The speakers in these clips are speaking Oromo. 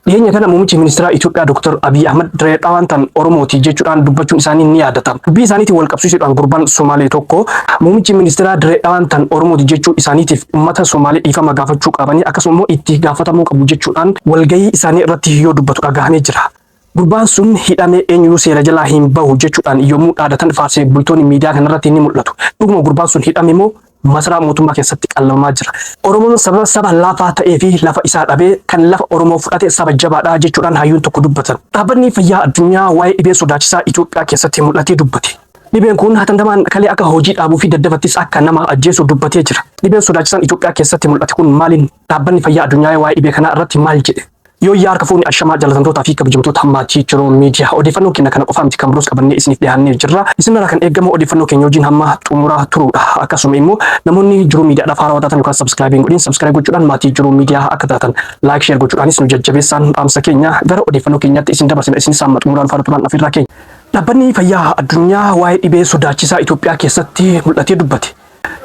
Dhiyeenya kana muummichi ministeeraa Itoophiyaa Dr. Abiy Ahmad Diree Dhawaan tan Oromooti jechuudhaan dubbachuun isaanii ni yaadatama. Dubbii isaaniitiin wal qabsiisuudhaan gurbaan Somaalee tokko muummichi ministeeraa Diree Dhawaan tan Oromooti jechuu isaaniitiif uummata Somaalee dhiifama gaafachuu qabanii akkasuma immoo itti gaafatamuu qabu jechuudhaan walgahii isaanii irratti yoo dubbatu dhagahamee jira. Gurbaan sun hidhamee eenyuu seera jalaa hin bahu jechuudhaan yommuu dhaadatan faarsee bultoonni miidiyaa kanarratti ni mul'atu. Dhuguma gurbaan sun hidhame moo masaraa mootummaa keessatti qallabamaa jira. Oromoon sababa saba laafaa ta'ee fi lafa isaa dhabee kan lafa Oromoo fudhate saba jabaadha jechuudhaan hayyuun tokko dubbatan. Dhaabbanni fayyaa addunyaa waa'ee dhibee sodaachisaa Itoophiyaa keessatti mul'atee dubbate. Dhibeen kun hatandamaan kalee akka hojii dhaabuu fi daddabattis akka nama ajjeesu dubbatee jira. Dhibeen sodaachisaan Itoophiyaa keessatti mul'ate kun maaliin dhaabbanni fayyaa addunyaa waa'ee dhibee kanaa irratti maal jedhe? Yooyyaa harka fuuni ashamaa jaalatamtootaa fi kabajamtoota maatii Jiroo Miidiyaa odeeffannoo keenya kana qofaa miti kan biroos qabannee isiniif dhiyaannee jirra. Isinirraa kan eegamu odeeffannoo keenya wajjin hamma xumuraa turuudha. Akkasuma immoo namoonni Jiroo Miidiyaadhaaf haarawaa taatan yookaan sabskiraaybii hin godhin sabskiraaybii gochuudhaan maatii Jiroo Miidiyaa akka taatan laayik sheer gochuudhaanis nu jajjabeessaan dhaamsa keenya gara odeeffannoo keenyaatti isin dabarsina isinis hamma xumuraan faana turaan afirraa keenya. Dhaabbanni Fayyaa Addunyaa waa'ee dhibee sodaachisaa Itoophiyaa keessatti mul'atee dubbate.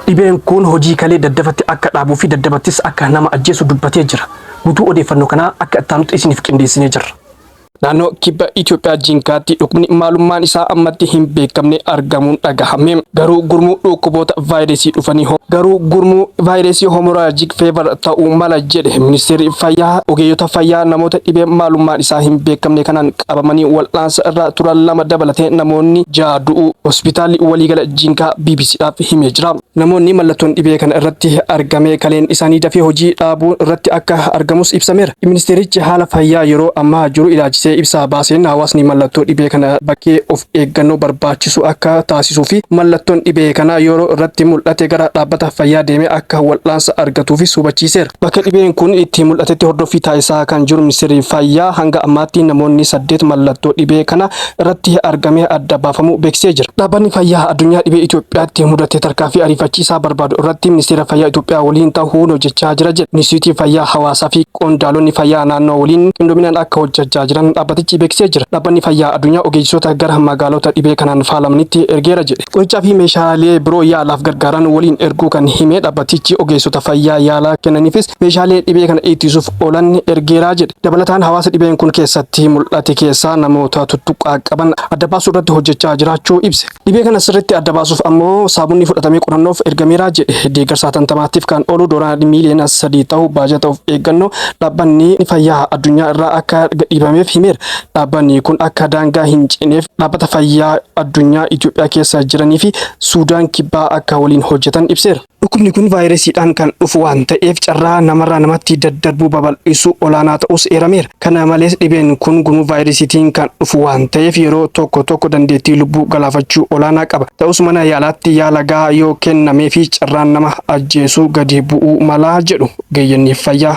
Dhibeen kun hojii kalee daddafatti akka dhaabuu fi daddabattis akka nama ajjeesu dubbatee jira. Gutuu odeeffannoo kanaa akka ittaanutti isiniif qindeessinee jirra. Naannoo kibba Itoophiyaa Jinkaatti dhukkubni maalummaan isaa ammatti hin beekamne argamuun dhagahame. Garuu gurmuu dhukkuboota vaayirasii dhufanii ho garuu gurmuu vaayirasii homoraajik feevar ta'uu mala jedhe Ministeerri Fayyaa ogeeyyota fayyaa namoota dhibee maalummaan isaa hin beekamne kanaan qabamanii wal'aansa irra turan lama dabalatee namoonni ja'a du'uu hospitaalli waliigala Jinkaa BBCdhaaf himee jira. Namoonni mallattoon dhibee kana irratti argame kaleen isaanii dafee hojii dhaabuu irratti akka argamus ibsameera. Ministeerichi haala fayyaa yeroo ammaa jiru ilaalchisee ibsa baaseen hawaasni mallattoo dhibee kana bakkee of eeggannoo barbaachisu akka taasisuu fi mallattoon dhibee kanaa yeroo irratti mul'ate gara dhaabbata fayyaa deemee akka wal'aansa argatuufis hubachiiseera. Bakka dhibeen kun itti mul'atetti hordoffii taasisaa kan jiru Ministeerri Fayyaa hanga ammaatti namoonni saddeet mallattoo dhibee kana irratti argamee adda baafamuu beeksisee jira. Dhaabbanni Fayyaa Addunyaa dhibee Itoophiyaatti mudate tarkaanfii ariifachiisaa barbaadu irratti Ministeera Fayyaa Itoophiyaa waliin ta'uun hojjechaa jira jedhe. Inistiitiyuutii Fayyaa Hawaasaa fi qondaalonni fayyaa naannoo waliin qindoominaan akka hojjechaa jiran dhaabbatichi beeksisee jira. Dhaabbanni Fayyaa addunyaa ogeessota gara magaalota dhibee kanaan faalamanitti ergeera jedhe. Qorichaa fi meeshaalee biroo yaalaaf gargaaran waliin erguu kan hime dhaabbatichi ogeessota fayyaa yaalaa kennaniifis meeshaalee dhibee kana ittisuuf oolan ergeera jedhe. Dabalataan hawaasa dhibeen kun keessatti mul'ate keessaa namoota tuttuqqaa qaban adda baasuu irratti hojjechaa jiraachuu ibse. Dhibee kana sirriitti adda baasuuf ammoo saabunni fudhatamee qorannoof ergameera jedhe. Deeggarsa hatantamaatiif kan oolu doolaarri miiliyoona sadii tahu baajata of eeggannoo dhaabbanni fayyaa addunyaa irraa akka gadhiibameef himeera. Dhaabbanni kun akka daangaa hin cineef dhaabbata fayyaa addunyaa Itoophiyaa keessa jiranii fi Suudaan Kibbaa akka waliin hojjetan ibseera. Dhukkubni kun vaayiresiidhaan kan dhufu waan ta'eef carraa namarraa namatti daddarbuu babal'isu olaanaa ta'uus eerameera. Kana malees dhibeen kun gumuu vaayiresiitiin kan dhufu waan ta'eef yeroo tokko tokko dandeettii lubbuu galaafachuu olaanaa qaba. Ta'us mana yaalaatti yaala gahaa yoo kennameefi carraan nama ajjeesuu gadi bu'uu mala jedhu ogeeyyonni fayyaa.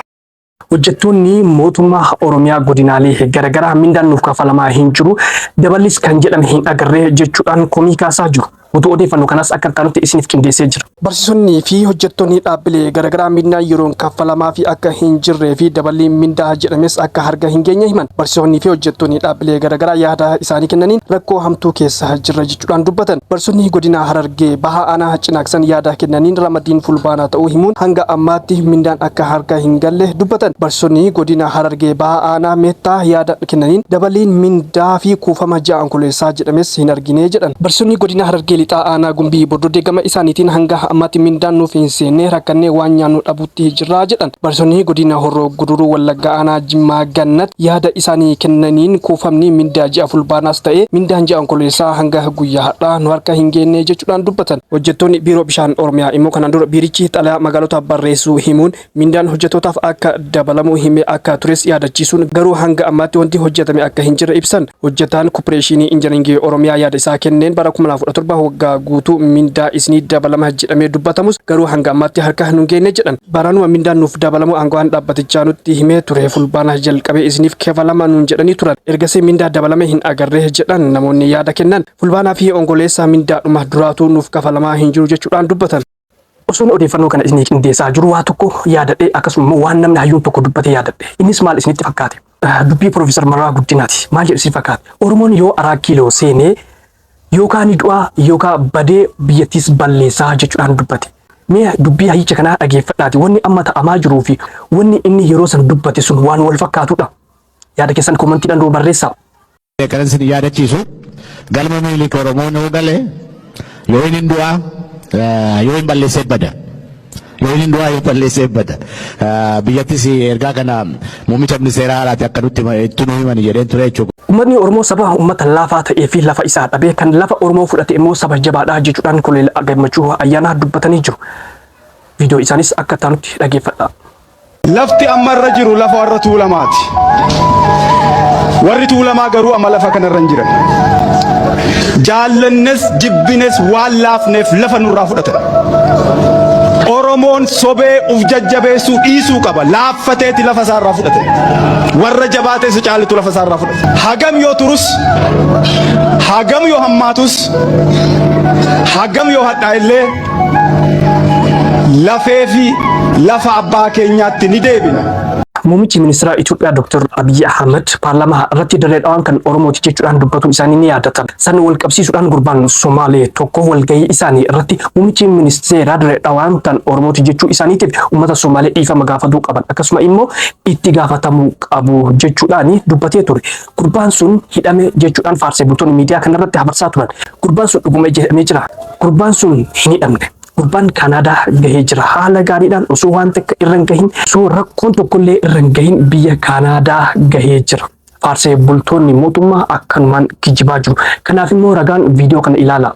Hojjettoonni mootummaa Oromiyaa godinaalee garagaraa mindaan nuuf kaffalamaa hin jiru, daballis kan jedhame hin agarre jechuudhaan komii kaasaa jiru. Guutuu odeeffanno kanaas akka itti aanutti isiniif qindeessee jira. Barsiisonni fi hojjettoonni dhaabbilee garagaraa mindaan yeroon kaffalamaafii akka hin jirree fi daballiin mindaa jedhames akka harga hin geenye himan. Barsiisoonni fi hojjettoonni dhaabbilee garagaraa yaada isaanii kennaniin rakkoo hamtuu keessa jirra. jechuudhaan dubbatan. Barsiisonni godina Harargee Bahaa aanaa Cinaaksan yaada kennaniin ramadiin Fulbaanaa ta'uu himuun hanga ammaatti mindaan akka harka hin galle dubbatan. Barsiisonni godina Harargee Bahaa aanaa Meettaa yaada kennaniin dabaliin mindaa fi kuufama ji'a Onkoleessaa jedhames hin argine jedhan. Barsiisonni godina Harargee Lixaa aanaa Gumbii Bordodee gama isaaniitiin hanga ammaatti mindaan nuuf hin seenne rakkannee waan nyaannu dhabuutti jirra jedhan. Barsiisonni Godina Horroo Guduruu Wallaggaa Aanaa Jimmaa Gannat yaada isaanii kennaniin kuufamni mindaa ji'a Fulbaanaas ta'ee mindaan ji'a Onkololeessaa hanga guyyaa har'aa nu harka hin geenne jechuudhaan dubbatan. Hojjettoonni Biiroo Bishaan Oromiyaa immoo kanaan dura biirichi xalayaa magaalotaaf barreessuu himuun mindaan hojjettootaaf akka dabalamu himee akka tures yaadachiisuun garuu hanga ammaatti wanti hojjetame akka hin jirre ibsan. Hojjetaan Koppireeshiinii Injinariingii Oromiyaa yaada isaa kenneen bara 2017 waggaa guutuu mindaa isinii dabalama jedhamee dubbatamus garuu hanga ammaatti harka nun geenne jedhan. Baranuma mindaan nuuf dabalamuu aangawaan dhaabbatichaa nutti himee ture. Fulbaana jalqabee isiniif kefalama nuun jedhanii turan. Ergasii mindaa dabalame hin agarre jedhan namoonni yaada kennan. Fulbaanaa fi Ongoleessaa mindaadhuma duraatuu nuuf kafalamaa hin jiru jechuudhaan dubbatan. Osoon odeeffannoo kana isinii qindeessaa jiru waa tokko yaadadhe akkasuma immoo waan namni hayyuun tokko dubbate yaadadhe. Innis maal isinitti fakkaate? Dubbii Profeesar Mararaa Guddinaati. Maal jedhu si fakkaata? Oromoon yoo araa kiiloo seenee yookaan ni du'aa yookaan badee biyyattiis balleessaa jechuudhaan dubbate. Mee dubbii hayyicha kanaa dhageeffadhaati. Wanni amma ta'amaa jiruu fi wanni inni yeroo san dubbate sun waan wal fakkaatudha. Yaada keessan komantiidhaan nuu barreessaa. Kanan isin yaadachiisu galma Minilik Oromoon yoo gale yoo inni du'aa yoo hin balleessee bada. Yoo inni du'aa yoo balleessee bada. Biyyattis ergaa kana muummicha ministeeraa haaraati akka nutti itti nu himani jedheen ture jechuudha. Ummatni Oromoo saba ummata laafaa ta'ee fi lafa isaa dhabee kan lafa Oromoo fudhate immoo saba jabaadha jechuudhaan Koloneel Gammachuu Ayyaanaa dubbatanii jiru. Viidiyoo isaanis akka itti aanutti dhageeffadhaa. Lafti amma irra jiru lafa warra Tuulamaati. Warri Tuulamaa garuu amma lafa kanarra hin jiran. Jaallannes jibbines waan laafneef lafa nurraa fudhatan. Oromoon sobee uf jajjabeessuu dhiisuu qaba. Laaffateeti lafa isaarraa fudhate. Warra jabaatee isa caalitu lafa isaarraa fudhate. Hagam yoo turus, hagam yoo hammaatus, hagam yoo hadhaa illee lafee fi lafa abbaa keenyaatti ni deebina. Muummichi ministeeraa Itoophiyaa Dr. Abiyyi Ahmad paarlaamaa irratti dirree dhawaan kan Oromooti jechuudhaan dubbatuun isaanii ni yaadatama. San wal qabsiisuudhaan gurbaan Somaalee tokko walgahii isaanii irratti muummichi ministeeraa dirree dhawaan kan Oromooti jechuu isaaniitiif uummata Somaalee dhiifama gaafatuu qaban akkasuma immoo itti gaafatamuu qabu jechuudhaan dubbatee ture. Gurbaan sun hidhame jechuudhaan faarsee bultoonni miidiyaa kanarratti habarsaa turan. Gurbaan sun dhuguma jedhamee jira. Gurbaan sun hin hidhamne. Gurbaan Kaanaadaa gahee jira. Haala gaariidhaan osoo waan takka irra hin gahin, osoo rakkoon tokkollee irra hin gahin biyya Kaanaadaa gahee jira. Faarsee bultoonni mootummaa akkanumaan kijibaa jiru. Kanaaf immoo ragaan viidiyoo kana ilaala.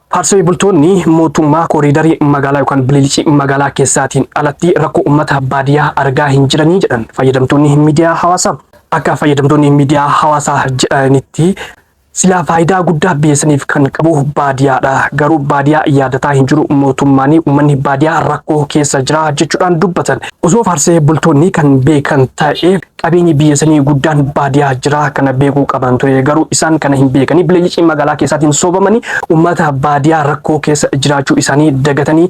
Paartilee bultoonni mootummaa kooriidarii magaalaa yookaan bililicii magaalaa keessaatiin alatti rakkoo uummata baadiyyaa argaa hin jiranii jedhan fayyadamtoonni miidiyaa hawaasaa. Akka fayyadamtoonni miidiyaa hawaasaa jedhanitti silaa faayidaa guddaa biyyeessaniif kan qabu baadiyaadha. Garuu baadiyaa yaadataa hin jiru mootummaan uummanni baadiyaa rakkoo keessa jira jechuudhaan dubbatan. Osoo faarsee bultoonni kan beekan ta'e Qabeenyi biyya sanii guddaan baadiyaa jira kana beekuu qaban ture garuu isaan kana hin beekanii bileeyyicii magaalaa keessaatiin soobamanii ummata baadiyaa rakkoo keessa jiraachuu isaanii dagatanii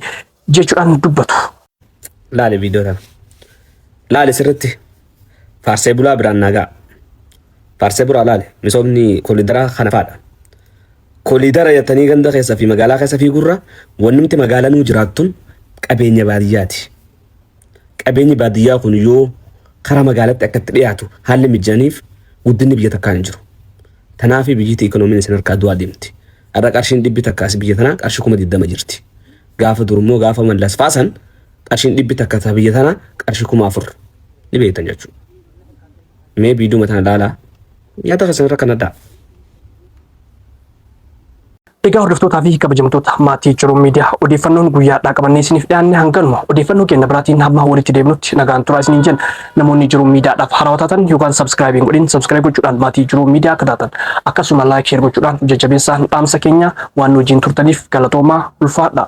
jechuudhaan dubbatu. Laali viidiyoo kana. Laali sirritti faarsee bulaa biraan naagaa. Faarsee bulaa laali misoomni kolidaraa kana faadha. Kolidara jettanii ganda keessa fi magaalaa keessa fiigurra wannumti magaalanuu jiraattun qabeenya baadiyyaati. qabeenyi baadiyyaa kun yoo karaa magaalatti akka itti dhiyaatu haalli mijaniif guddinni biyya takkaa hin jiru. Tanaafi biyyiti ikoonomiin isin harkaa du'aa deemti. Har'a qarshiin dhibbi takkaas biyya tanaa qarshii kuma digdama jirti. Gaafa durummoo gaafa mallas faasan qarshiin dhibbi takka ta biyya tanaa qarshii kuma afur ni beektan jechuudha. Mee biiduma tana laalaa nyaata keessan irra kan addaa. Egaa hordoftootaa fi kabajamtoota maatii Jiruun Miidiyaa odeeffannoon guyyaadhaa qabannee isiniif dhiyaanne hanganuma odeeffannoo keenya biraatiin hamma walitti deemnutti nagaan turaa isiniin jenna. Namoonni Jiruun Miidiyaadhaaf haarawaa taatan yookaan sabskraayibiin godhin sabskraayib gochuudhaan maatii Jiruun Miidiyaa akka taatan akkasuma laayik sheer gochuudhaan jajjabeessaan dhaamsa keenya waan nu wajjin turtaniif galatoomaa ulfaadhaa.